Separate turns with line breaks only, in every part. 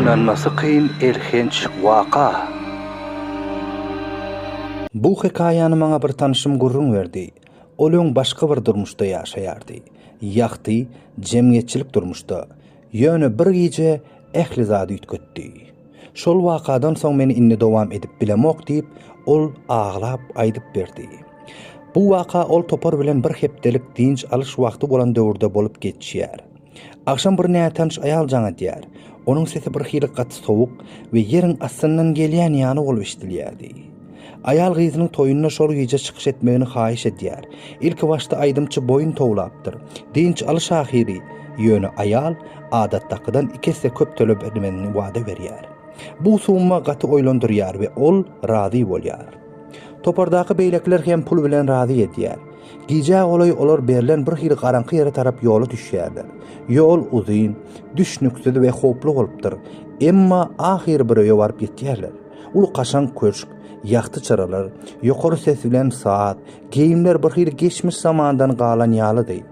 Ynanmasy kyn elhenç waka. Bu hekaýany maňa bir tanşym gürrüň berdi. Ol öň başga bir durmuşda ýaşaýardy. Ýagty, jemgyýetçilik durmuşda. Ýöne bir gije ähli zady üýtgetdi. Şol wakadan soň men indi dowam edip bilemok diýip, ol aglap aýdyp berdi. Bu waka ol topar bilen bir hepdelik dynç alyş wagty bolan döwürde bolup geçýär. Agşam bir nätanyş aýal jaň edýär. Onuň sesi birhili gaty sowuk we ýeriň astyndan gelýän ýaly bolup eşidilýärdi. Aýal gyzynyň toýunda şol gije çykyş etmegini haýyş edýär. Ilki başda aýdymçy boýun towlapdyr. Dynç alyş ahyry, ýöne aýal adatdakydan iki esse köp tölemegini wada berýär. Bu summa gaty oýlandyrýar we ol razy bolýar. Topardaky beýlekiler hem pul bilen razy edýär. Gijä golaý olar berlen bir hili garaňky ýere tarap ýola düşýärler. Ýol uzyn, düşnüksiz we howply bolupdyr. Emma ahyry bir öýe baryp ýetýärler. Uly kaşaň köşk, ýagty çyralar, ýokary ses bilen saz, geýimler bir hili geçmiş zamandan galan ýalydy.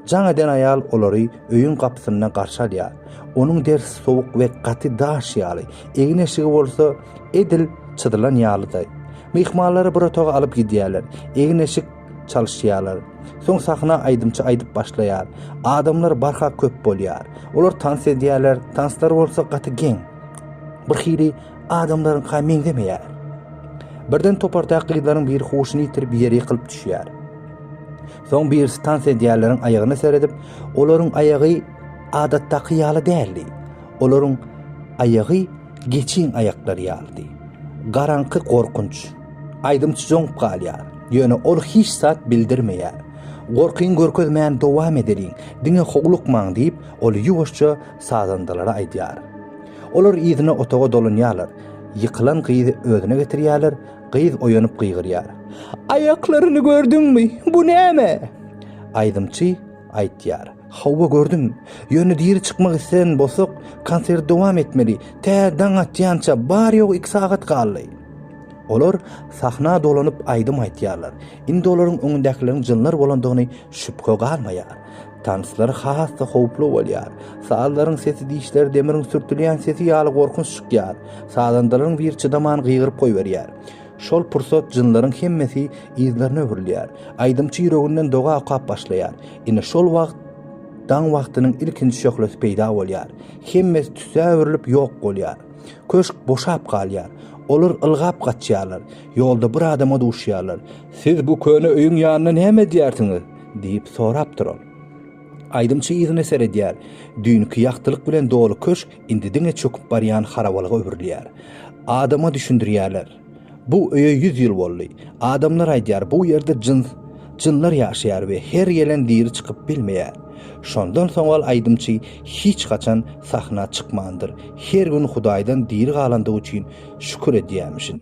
Jaň eden aýal olary öýüň gapysynda garşy alýar. Onuň derisi sowuk we gaty daş ýaly, egin-eşigi bolsa edil çyzylan ýalydaý. Myhmanlary bir otaga alyp gidýärler, egin-eşik çalyşýarlar. Soň sahna aýdymçy aýdyp başlaýar. Adamlar barha köp bolýar. Olar tans edýärler, tanslar bolsa gaty geň. Birhili adamlaryňka meňzemeýär. Birden topardaky gyzlaryň biri huşuny ýitirip ýere ýykylyp düşýär. Soň birisi tans edýänleriň aýagyna seredip, olaryň aýagy adatdaky ýaly däldi. Olaryň aýagy geçiň aýaklary ýalydy. Garaňky gorkunç. Aýdymçy joňup galýar. Ýöne ol hiç zat bildirmeýär. Gorkyň görkezmän dowam edeliň, diňe howlukmaň diýip, ol ýuwaşja sazandalara aýdýar. Olar yzyna otaga dolanýarlar. Ýykylan gyzy özüne getirýärler, Gyz oýanyp gygyrýar. Aýaklaryny gördüňmi? Bu näme? Aýdymçy aýtýar. Hawa, gördüm. Ýöne diri çykmak isleýän bolsak, konserti dowam etmeli. Tä daň atýança, bary-ýogy iki sagat galdy. Olar sahna dolanyp aýdym aýtýarlar. Indi olaryň öňündäkileriň jynlar bolandygyny şübhe galmaýar. Tanslar has-da howply bolýar. Sazlaryň sesi dişler demiriň sürtülýän sesi ýaly gorkunç çykýar. Sazandalaryň biri çydaman gygyryp goýberýär. Şol pursat jynlaryň hemmesi yzlaryna öwrülýär. Aýdymçy ýüreginden doga okap başlaýar. Ine şol wagt daň wagtynyň ilkinji şöhlesi peýda bolýar. Hemmesi tüssä öwrülip ýok bolýar. Köşk boşap galýar. Olar ylgap gaçýarlar. Ýolda bir adama duşýarlar. Siz bu köne öýüň ýanynda näme edýärsiňiz? Diýip sorapdyr ol. Aýdymçy yzyna seredýär. Düýnki ýagtylyk bilen doly köşk indi diňe çöküp barýan harabalyga öwrülýär. Adama düşündirýärler. Bu öýe ýüz ýyl boldy. Adamlar aýdýar, bu ýerde jyns, jynlar ýaşaýar we her gelen diri çykyp bilmeýär. Şondan soňal aýdymçy hiç haçan sahna çykmandyr. Her gün Hudaýdan diri galandygy üçin şükür edýämişin.